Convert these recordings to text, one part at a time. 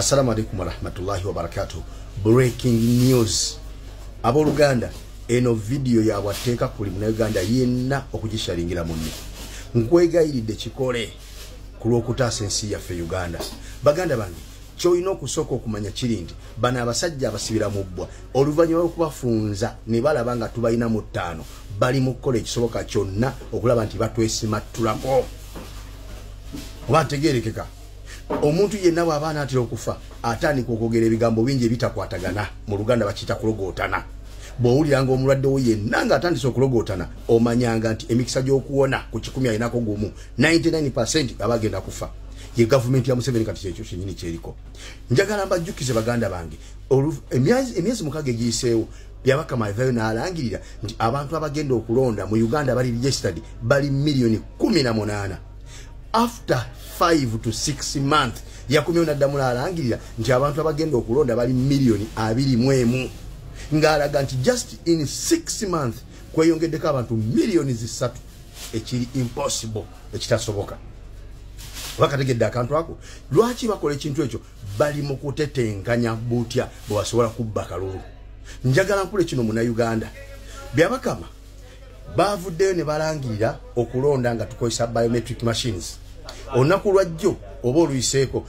assalamu alaikum warahmatullahi wabarakatuh breaking news aboluganda eno vidiyo yabwatteeka kuli munauganda yenna okugishalingira munne nkwegayiridde kikole ku lw'okutaasa ensi yaffe uganda baganda bange kyolina okusooka okumanya kiri nti bano abasajja abasibira mu bbwa oluvannyuma lwokubafunza ne balaba nga tubalina mu ttaano bali mu kukola ekisoboka kyonna okulaba nti batwesimattulako oba ntegeerekeka omuntu yenna bw'aba anaatera okufa atandika okwogera ebigambo bingi ebitakwatagana mu luganda bakiyita kulogootana bw'owuliranga omulwadde wo yenna ng'atandise okulogootana omanyanga nti emikisa gy'okuwona ku kikumi alinako gumu 99 percent aba agenda kufa ye gavumenti ya museveni kati kyekyo kyenyini kyeriko njagala mbajjukize baganda bange emyezi mukaga egiyiseewo yabaka mavayo n'alangirira nti abantu abagenda okulonda mu uganda bali registered bali miliyoni kumi na munaana after 5 to 6 month yakomyewo naddamu nalangirira nti abantu abagenda okulonda bali miliyoni abiri mu emu ng'alaga nti just in 6 month kweyongeddeko abantu miliyoni zisatu ekiri impossible ekitasoboka bakategedde akantu ako lwaki bakola ekintu ekyo bali mu kutetenkanya butya bwebasobola kubba kalulu njagala nkule kino munauganda byabakama baavuddeyo ne balangirira okulonda nga tukozesa biometric machines olunaku lwajjo oba oluyiseeko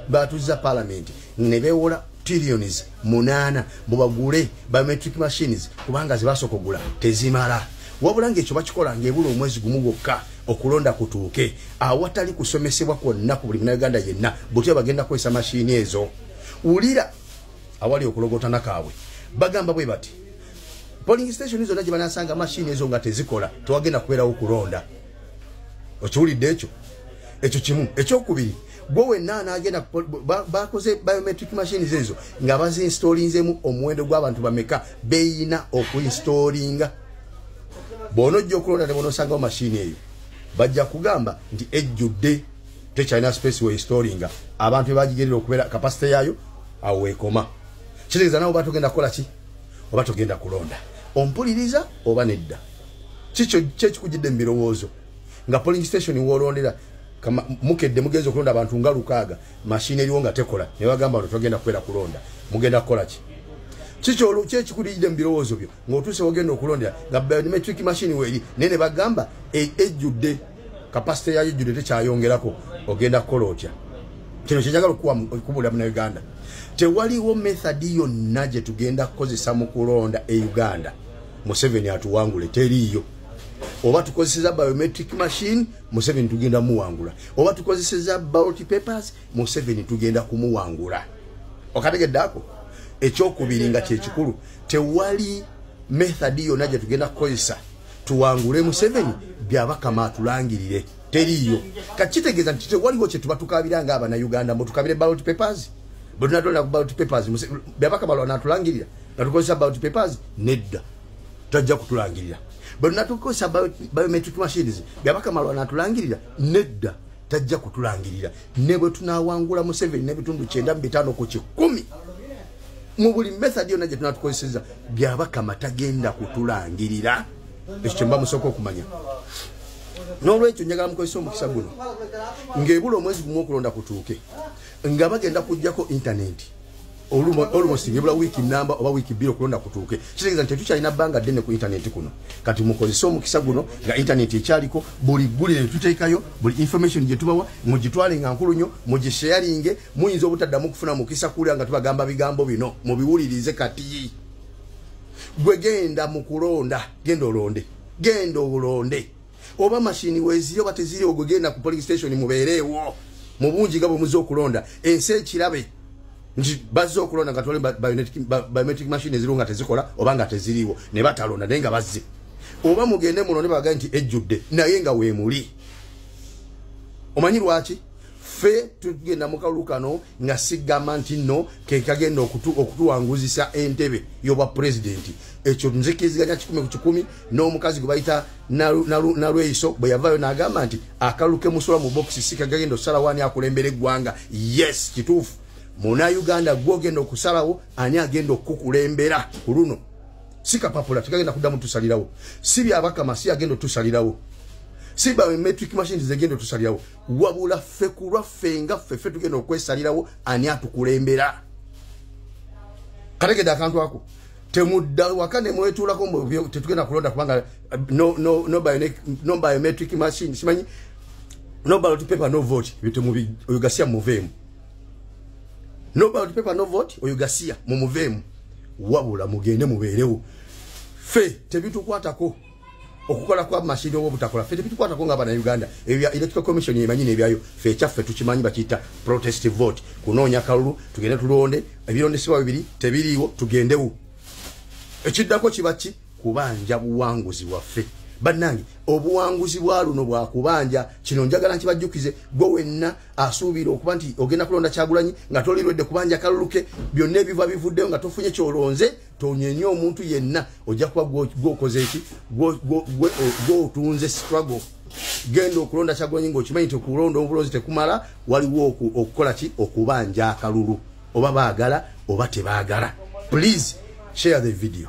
baatuuziza palamenti ne beewola trillions munaana mubagule biometric machines kubanga zebasooka ogula tezimala wabula ngaekyo bakikola ngaebula omwezi gumu gwokka okulonda kutuuke awatali kusomesebwa kwonna ku buli munauganda yenna butya bagenda kukozesa mashini ezo wulira awali okulogotana kaabwe bagamba bwe bati polling station zonna gye banasanga mashini ezo nga tezikola tewagenda kubeerawo kulonda okiwulidde ekyo ekyo kimu ekyokubiri gwe wenna anagenda bakoze biometric machines ezo nga baziinstolinzemu omuwendo gw'abantu bameka beyina okuinstolinga bwona ojja okulonda ne bonosangawo mashini eyo bajja kugamba nti ejjudde tekyalina space weinstolinga abantu bebagigerera okubeera kapasite yaayo awo wekoma kitegeeza nawe oba togenda kukola ki oba togenda kulonda ompuliriza oba nedda kikyo kyekikujidde mu birowoozo nga polling station wolondera mukedde mugenza okulonda abantu nga lukaaga mashini eriwo nga tekola nebagamba no togenda kubeera kulonda mugenda kukola ki kikyo olukyekikulidde mu birowoozo byo ng'otuuse wogenda okulondera nga biometric machine weeri naye ne bagamba e, ejjudde kapasite yayo ejjudde tekyayongerako ogenda kukola otya kino kyenjagala okubuulira munauganda tewaliwo methadi yonna gye tugenda kukozesa mu kulonda e uganda museveni atuwangule teriiyo oba tukozeseza biometric machine museveni tugenda muwangula oba tukozeseza ballot papers museveni tugenda kumuwangula okategedde ako ekyokubiri nga kyekikulu tewali method yona gye tugenda kukozesa tuwangule museveni byabakama atulangirire teriiyo kakitegeeza nti tewaliwo kyetuba tukabira nga abana uganda mbu tukabire ballot papers bwetunatolera ku ballot papers byabakama lwana atulangirira nga tukozesa ballot papers nedda tajja kutulangirira bwenatukozesa biometric machines byabakama lwana atulangirira nedda tajja kutulangirira ne bwe tunawangula museveni n'ebitundu kyenda mu bitaano ku kikumi mu buli method yonna gye tunatukozeseza byabakama tagenda kutulangirira ekyo kyemba musooka okumanya n'olwekyo njagala mukozesa omukisa guno ng'ebula omwezi gumu okulonda kutuuke nga bagenda kujjako intaneti olumosi ebula wiiki namba oba wiiki bbiri okulonda kutuuke kitegeeza nti tetukyalina bbanga ddene ku intaneti kuno kati mukozese omukisa guno nga intaneti ekyaliko buli ggulire netuteekayo buli information gye tubawa mugitwale nga nkulu nnyo mugisheyaringe muyinza obutaddamu kufuna mukisa kuwulira nga tubagamba bigambo bino mubiwulirize kati gwe genda mu kulonda genda olonde genda olonde oba mashini weziri oba teziri ogwe genda ku police station mubeereewo mu bungi nga bwemuze okulonda ensi ekirabe nti bazze okulonda nga toli biometric machine eziriwo nga tezikola oba nga teziriiwo ne batalonda naye nga bazze oba mugende muno ne bagaa nti ejjudde naye nga weemuli omanyi lwaki ffe tugenda mu kalulu kano nga sigamba nti nno kekagenda okutuwanguzisa entebe y'obwa pulezidenti ekyo nzikiziganya kikumi ku kikumi n'omukazi gwe bayita nalweyiso bwe yavaayo n'agamba nti akalulu kemusula mu bokisi si kagagenda okusalawo ani akulembera eggwanga yes kituufu muna uganda gwe ogenda okusalawo ani agenda okukukulembera ku luno si kapapula tekagenda kuddamu tusalirawo si byabakama si agenda otusalirawo si biometric machines zegenda otusalirawo wabula ffe ku lwaffe nga ffe ffe tugenda okwesalirawo ani atukulembera kategedde akantu ako temudda waka nemwetuulako mbu tetugenda kulonda kubanga eh, no, no, no, bionic, no biometric machine simanyi no ballot paper no vote bitemubi oyo gasiya muveemu no ballot paper no vote oyo gasiya mumuveemu wabula mugende mubeerewo fe tebitukwatako okukola kwa mashini oba obutakola fe tebitukwatako nga banauganda ebya electoral commission emanyi nebyayo fe ekyaffe tukimanyi bakiyita protest vote kunoonya kalulu tugende tulonde ebirondesebwa bibiri tebiriiwo tugendewo ekiddako kiba ki kubanja buwanguzi bwaffe bannange obuwanguzi bwa luno bwakubanja kino njagala nkibajjukize gwe wenna asuubira okuba nti ogenda kulonda kyagulanyi nga tolirwedde kubanja kaluluke byonna ebiva bivuddeyo nga tofunye kyolonze tonyenye omuntu yenna ojja kuba gwokoze eki gwotunze struggle genda okulonda kyagonyi ngaokimanyi nti okulonda obulonzi tekumala waliwo okukola ki okubanja akalulu oba baagala oba tebaagala please share the video